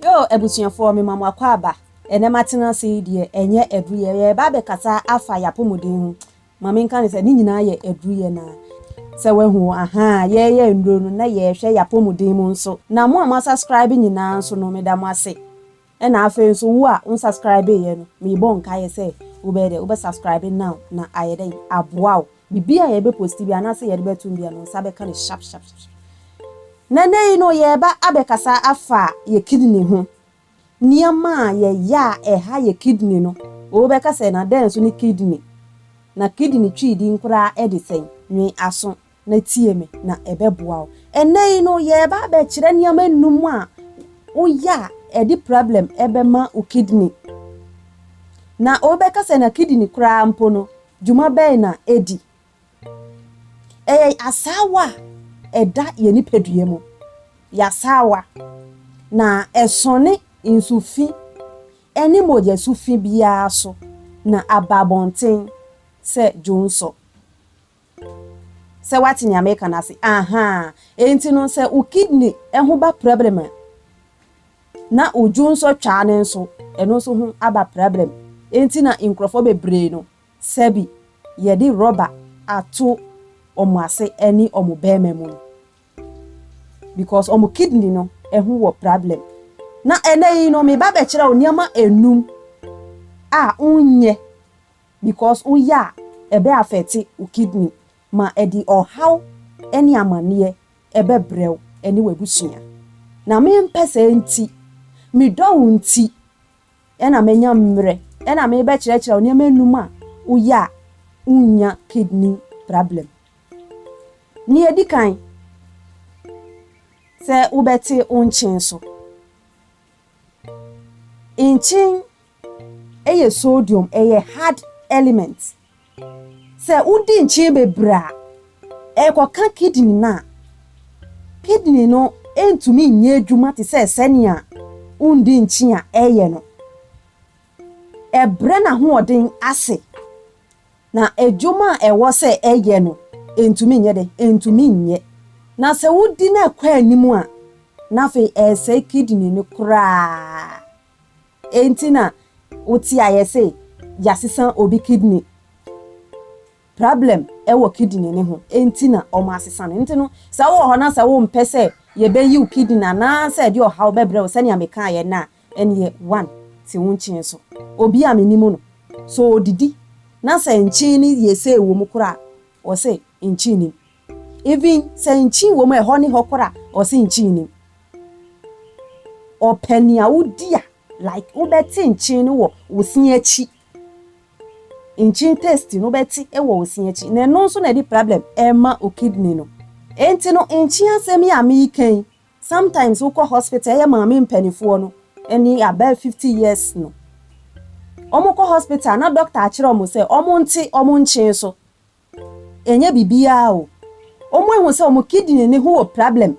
Yoo abusuafoɔ mema mo akwaaba ɛnɛ matena ase yi deɛ ɛnyɛ aduruyɛ yɛreba abɛkasa afa y'apomuden ho ma menka no sɛ ne nyinaa yɛ aduruyɛ na sɛ wahu o ahaa yɛreyɛ nnuro no na yɛrehwɛ y'apomuden mu nso na mo a mo asascribe nyinaa nso no meda mo ase ɛna afei nso wo a wo nsascribe yɛ no merebɔ nkaeɛ sɛ wobɛyɛ dɛ wobɛ subscribe now na ayɛ dɛn aboa wo Biribi a yɛbɛ posti bia anaasɛ yɛde bɛtom bia no nsa bɛka no sharp sharp sharp. Na ɛnɛ yi no yɛɛba abɛkasa afa yɛ kidney ho. Nneɛma a yɛyɛ a ɛha yɛ kidney no. Oo bɛka sɛ na dɛn nso ne kidney? Na kidney twi din koraa de sɛn? Nwe aso na tie me na ɛbɛboa wo. Ɛnɛ yi no yɛɛba abɛkyerɛ nneɛma nnum a woyɛ a ɛde problem ɛbɛma wo kidney. Na oo bɛka sɛ na kidney koraa mpo no Dwuma bɛn na edi? Ɛyɛ asaawa a ɛda yɛn nipadua mu. Ɛyɛ asaawa, na ɛsɔne nsu fi ne mogya su fi biara so na aba abɔnten sɛ dwonsɔ. Sɛ woate nea mereka no ase? Ahaa. Enti no, sɛ wo kidney ho ba problem a, Na odwo nsɔ twaa no nso, ɛno nso ho aba prabrɛm. Enti na nkurɔfoɔ bebree no, sɛbi yɛde rɔba ato wɔn ase ɛne wɔn bɛɛma mu no. Because wɔn kidney no ho wɔ prabrɛm. Na ɛnɛ yi no, meba bɛkyerɛ wo nneɛma nnum a wonyɛ because woyɛ a ɛbɛ afɛte wo kidney ma ɛde ɔhaw ɛne amaneɛ ɛbɛbrɛ wo ne w'abusua. Na mempɛ saa nti, medɔ wo nti na manya mmerɛ na merebɛkyerɛkyerɛ wo nneɛma nnum a woyɛ a wonnya kidney problem. Nea edi kan, sɛ wobɛte wo nkyen so. Nkyen yɛ sodium, ɛyɛ hard element. Sɛ wodi nkyene bebree a, ɛkɔka kidini no a, kidini no ntumi nyɛ adwuma te sɛ sɛnea wundi nkyen a ɛyɛ no. Ɛbrɛ n'ahoɔden ase, na adwuma a ɛwɔ sɛ ɛyɛ no, entumi nyɛ dɛn? Entumi nyɛ. Na sɛ wodi no kɔ anim a, na afei ɛresɛe kidini no koraa. Enti na wo te a yɛse yasesa obi kidney. Problem wɔ kidney no ho enti na wɔn asesa no. Nti no sɛ wowɔ hɔ na sɛ wo mpɛ sɛ yɛbɛyi wo kidney anaa sɛ ɛde ɔhaw bɛbrɛ wo sɛnea me kaeɛ no a, ɛneɛ one te wo nkyen so. Obi a me nim no sɛ ɔdidi na sɛ nkyen no yɛ sei wɔ mu koraa a, ɔse nkyen nim. Even sɛ nkyin wɔ mu a ɛhɔ ne hɔ kora ɔse nkyin nnim. Ɔpɛ nea wodi a like wobɛte nkyin no wɔ wo se akyi. Nkyin taste no wobɛte wɔ wo se akyi na ɛno nso na ɛde problem ɛma wo kidney no. Enti no nkyin asɛm yi a mereka yi sometimes wokɔ hospital ɛyɛ maame mpanifoɔ no ne above fifty years no wɔkɔ hospital na doctor akyerɛ wɔn sɛ wɔnte wɔn nkyin so. Ɛnyɛ biribiara o, wɔn ahu sɛ wɔn kidney no ho wɔ problem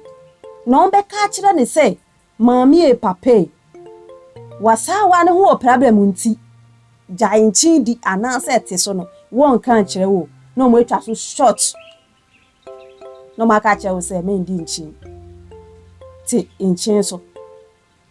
na wɔn bɛka akyerɛ no sɛ maame e papa e, w'asaawa no ho wɔ problem nti gyae nkyen di anaasɛ ɛte so no wɔnka nkyerɛ wo na wɔn atwa so short na wɔn aka akyerɛ wo sɛ mɛndi nkyen, te nkyen so.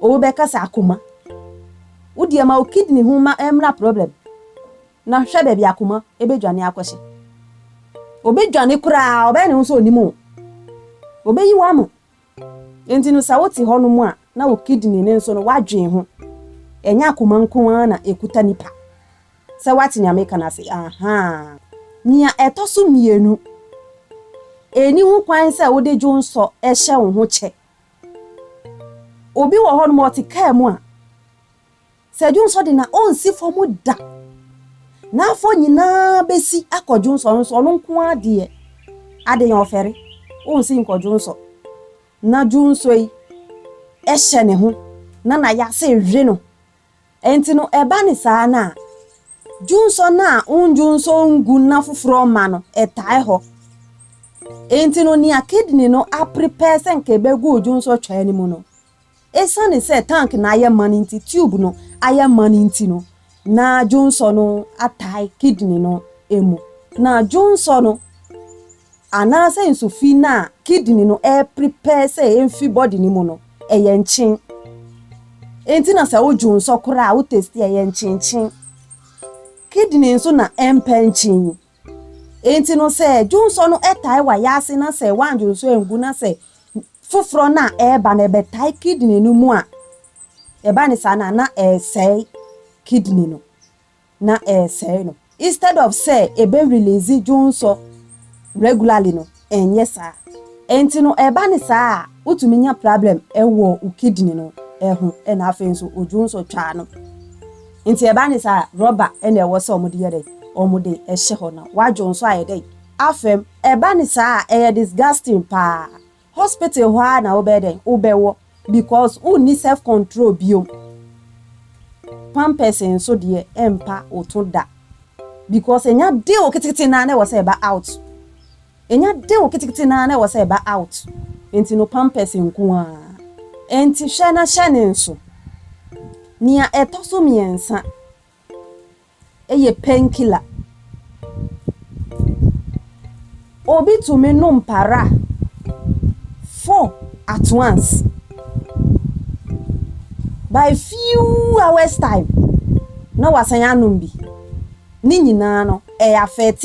Obi bɛkasa akoma. Wo deɛ ma wo kidney ho ma ɛmmra problem na hwɛ baabi akoma bɛdwane akɔhyɛ. Ɔbɛdwane koraa ɔbɛyɛ ne ho sɛ ɔnim wo. Ɔbɛyi wo ama. Enti no sɛ wote hɔ nom a na wo kidney no nso no woadwen ho. Ɛnyɛ akoma nko ara na ɛkuta nipa. Sɛ woate nea meka no ase ahaa. Nea ɛtɔ so mmienu, ɛnni ho kwan sɛ wode dwonsɔ hyɛ wo ho kyɛ. Obi wɔ hɔnom a ɔte kaa mu a, sɛ dwonsɔ de no a, ɔnsi fam da. N'afɔ nyinaa bɛsi akɔ dwonsɔ no so, ɔno nko ara deɛ, adɛn ɔfɛre, ɔnsi nkɔ dwonsɔ. Na dwonsɔ yi hyɛ ne ho, na n'ayase we no. Enti no, ɛba no saa no a, dwonsɔ no a wondwonsɔ ngu nna foforɔ mma no, ɛtae hɔ. Enti no, nea kidney no aprepare sɛ nka ɛbɛgu wo dwonsɔ twaa no mu no, esiane sɛ tank no ayɛ ma no nti, tube no ayɛ ma no nti no, na dwonsɔ no atae kidney no mu, na dwonsɔ no. Anaasɛ nsu fi no a kidney no ɛreprepare sɛ ɛmfi body no mu no, ɛyɛ nkyen. Enti na sɛ wodwo nsɔ koraa a, wo taste a, ɛyɛ nkyenkyen. Kidney nso na ɛmpɛ nkyen. Enti no sɛ dwo nsɔ no tae wa yaase na sɛ woandwo nsɔ angu na sɛ foforɔ no a ɛreba no ɛbɛtae kidney no mu a, ɛba ne saa no a na ɛresɛe kidney no. na ɛresɛe no. Instead of sɛ ɛbɛ release dwonsɔ regularly no, ɛnyɛ saa. Ɛnti no ɛba no saa a, wotumi nya problem wɔ wo kidney no ho ɛna afei nso wo dwonsɔ twaa no. Nti ɛba no saa a, rubber ɛna ɛwɔ sɛ wɔde yɛ dɛn? Wɔde hyɛ hɔ na w'adwonsɔ ayɛ dɛn? Afɛm. Ɛba no saa a, ɛyɛ disgusting paa. Hospital hɔ ara na wobɛyɛ dɛn? Wobɛwɔ because wonni self control biom. Pampers nso deɛ ɛmpa wo to da because ɛnya dew ketekete no ara na ɛwɔ sɛ ɛba out. Ɛnya dew ketekete no ara na ɛwɔ sɛ ɛba out. Enti no pampers nko ara. Enti hwɛ na hyɛ ne nso. Nea ɛtɔ so mmiɛnsa, yɛ painkiller. Obi tumi nom para four at once. By few hours time na wasan anom bi. Ne nyinaa no, ɛyɛ affect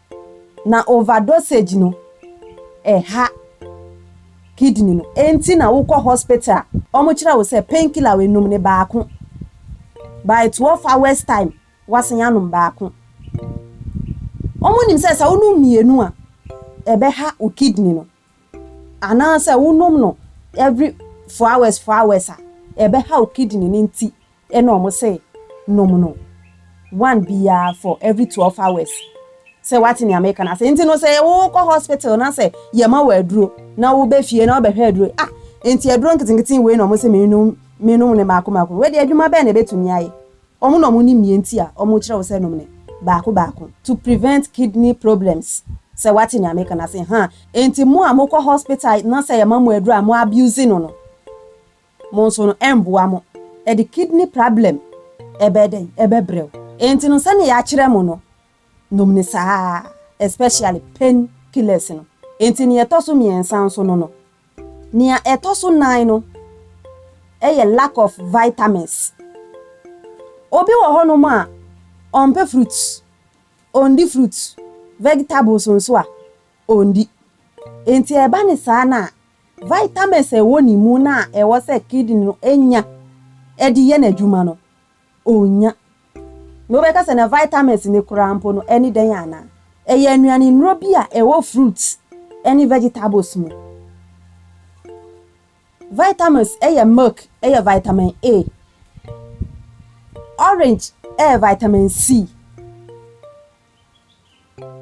Na overdosage no ɛha kidney no enti na wokɔ hospital a wɔn kyerɛ wo sɛ pain killer we nom no baako by twelve hours time wasan anom baako wɔn nim sɛ sɛ wonom mmienu a ɛbɛha wo kidney no. Anaasɛ wonom no every four hours four hours a, ɛbɛhaw kidney no nti na wɔn se nom no one biara for every twelve hours. Sɛ woate nea meka no ase. Nti no sɛ wokɔ hospital na sɛ yɛma wo aduro na woba fie na wobɛhwɛ aduro yi, ah nti aduro nketenkete wei na wɔn se mennom, mennom no mmaako mmaako no, wodeɛ adwuma bɛn na ɛbɛtumi ayɛ? Wɔn na wɔnim nea enti a wɔkyerɛ wo sɛ nom no baako baako to prevent kidney problems. Sɛ woate nea meka no ase ha a, enti mo a mokɔ hospital na sɛ yɛma mo aduru a mo abuse no no, mo nso no ɛmboa mo. Ɛde kidney prablem ɛbɛyɛ dɛn? Ɛbɛbrɛ wo. Enti no sɛnea yɛakyerɛ mo no, nom no saa ara, especially pain killers no. Enti nea ɛtɔ so mmiɛnsa nso no no. Nea ɛtɔ so nan no yɛ lack of vitamins. Obi wɔ hɔnom a ɔmpɛ fruit, ɔndi fruit, vegetables nso a ɔndi. Enti ɛba ne saa no a, vitamins a ɛwɔ ne mu no a ɛwɔ sɛ kidney no nya de yɛ n'adwuma no, Onnya. Na wobɛka sɛ na vitamins no koraa mpo no ɛne dɛn anaa? Ɛyɛ nnuane nnuro bi a ɛwɔ fruits ne vegetables mu. Vitamins yɛ milk yɛ vitamin A, orange yɛ vitamin C.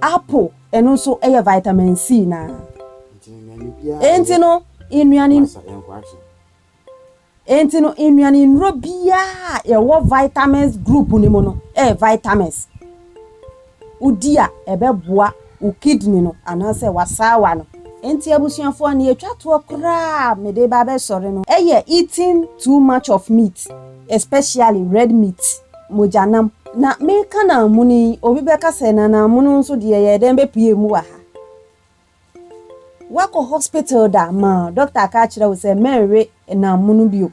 Apple, ɛno nso yɛ vitamin C no ara. Enti no, nnuane Enti no, nnuane nnuro biara a ɛwɔ vitamins group no mu no yɛ vitamins. Wodi a, ɛbɛboa wo kidney no anaasɛ w'asaawa no. Enti abusuafoɔ, nea ɛtwa toɔ koraa a mede ba abɛsɔre no yɛ eating too much of meat, especially red meat. mogyanam. Na meka naa mono yi, obi bɛka sɛ na naa mono nso deɛ yɛɛ dɛn bɛpue mu wɔ ha? Woakɔ hospital da ma dɔkta aka akyerɛ wo sɛ mɛnwe naa mono bio?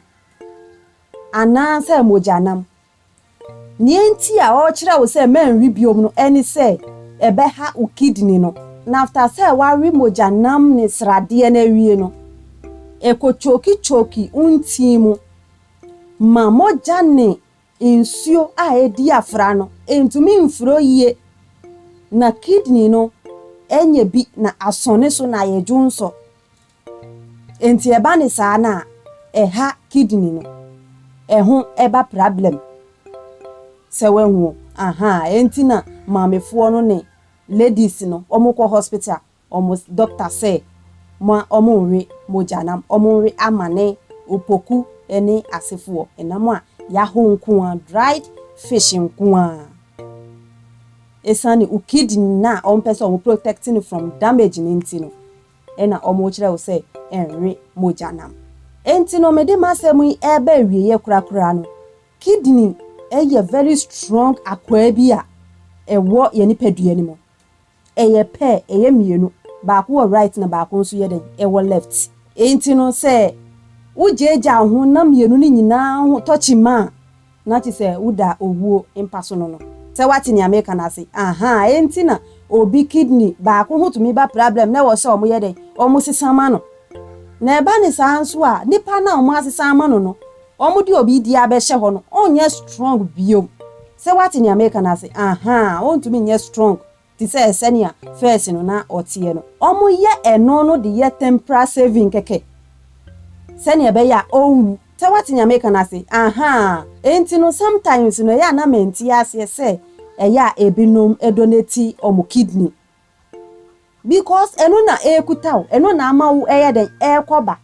Anaa sɛ mogyanam? Nea enti a ɔrekyerɛ wo sɛ mɛnwe biom no ɛne sɛ ɛbɛha wo kidney no. Na after sɛ woawe mogyanam ne sradeɛ no awie no, ɛkɔ choki choki wo ntini mu ma mogya ne Nsuo a ɛdi afra no ntumi mforo yie na kidney no nyɛ bi na asɔ ne so na ayɛ dwonsɔ. Nti ɛba no saa no a ɛha kidney no, ɛho ba prablɛm. Sɛ wahu o, ahaa, ɛnti na maamefoɔ no ne ladies no wɔkɔ hospital. wɔn dɔkta sɛ ma wɔnwe mogya na wɔnwe amane, opoku ne asefoɔ ɛnam a yɛaho nko ara, dried fish nko ara. Ɛsiane wo kidney no a wɔpɛ sɛ wɔn protect no from damage no nti no ɛna wɔkyerɛ wo sɛ nwe mogya nam. Ɛnti no mede m'asɛm yi ɛreba awieɛ korakora no, kidney ɛyɛ very strong akwaa bi a ɛwɔ yɛn nipadua no mu. Ɛyɛ pɛ, ɛyɛ mmienu. Baako wɔ right na baako nso yɛ dɛn? Ɛwɔ left. Enti no sɛ wogyaagyaa wo ho na mmienu no nyinaa ho tɔ kyima a, na kyerɛ sɛ woda owuo mpa so no no. Sɛ woate nea mereka no ase? Ahaa, enti na obi kidney baako ho tumi ba prablɛm na ɛwɔ sɛ wɔyɛ dɛn? Wɔsesa ma no. Na ɛba no saa nso a, nipa no a wɔasesa ama no no, wɔde obi deɛ abɛhyɛ hɔ no, ɔrenyɛ strong bio. Sɛ wate nea meka no ase ahaa a, ontumi nyɛ strong te sɛ sɛnea first no na ɔteɛ no. Wɔyɛ ɛno no de yɛ temporal saving kɛkɛ sɛnea ɛbɛyɛ a ɔrenwu. Sɛ wate nea meka no ase ahaa a. Enti no sometimes no ɛyɛ a na mente aseɛ sɛ ɛyɛ a ebinom donate wɔn kidney because ɛno na ɛrekuta wo, ɛno na ama wo ɛyɛ dɛn ɛrekɔ ba.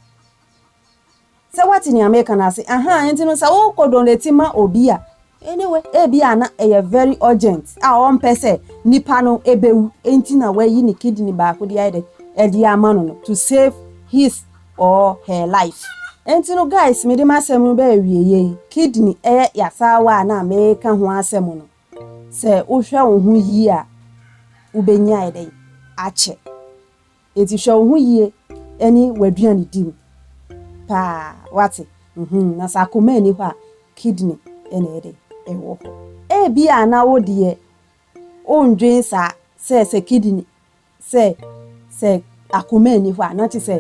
Sɛ woate nea mereka no ase ahaa? Enti no sɛ wokɔ donate ma obi a, anyway, ebia na ɛyɛ very urgent a ɔmpɛ sɛ nipa no bewu nti na wayi ne kidney baako de ayɛ dɛ ɛde ama no no to save his or her life. Enti no guys mede m'asɛm no ba awieɛ yi, kidney ɛyɛ yasaawa a na mereka ho asɛm no, sɛ wohwɛ wo ho yie a wobɛnya ayɛ dɛn? akyɛ. Enti hwɛ wo ho yie ne w'aduane di mu paa, woate? Mhmm, na sɛ akoma nni hɔ a, kidney na ɛyɛ dɛn? Ɛwɔ hɔ. Ebia na wo deɛ wondwen saa, sɛ, sɛ kidney, sɛ, sɛ akoma nni hɔ a, na kyerɛ sɛ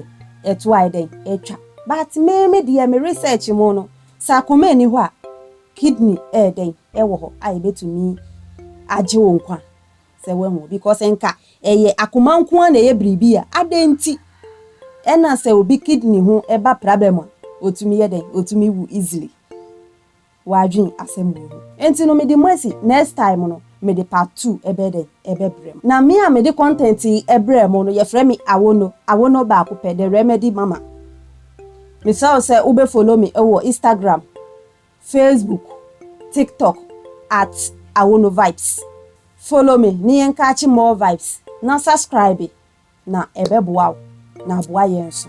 ɛtoɔ ayɛ dɛn? Atwa. But me, me deɛ, me research mu no, sɛ akoma nni hɔ a, kidney yɛ dɛn? Ɛwɔ hɔ a ɛbɛtumi agye wo nkwa. Sɛ wahu because nka ɛyɛ akoma nko ara na ɛyɛ biribi a adɛn nti ɛna sɛ obi kidney ho ba prabɛm a ɔtumi yɛ dɛn ɔtumi wu easily wadwen asɛm wei ho nti no mede mo asi next time no mede part two ɛbɛyɛ dɛn ɛbɛbrɛ mo na me a mede content yi ɛbrɛ mo no yɛfrɛ me Awono Awono baako pɛ the remedy mama mesrɛ wo sɛ wobɛ follow me wɔ Instagram Facebook, TikTok at AwonoVibes, follow me ne yɛn catch more vibes na subscribe na ɛbɛboa wo na aboa yɛn nso.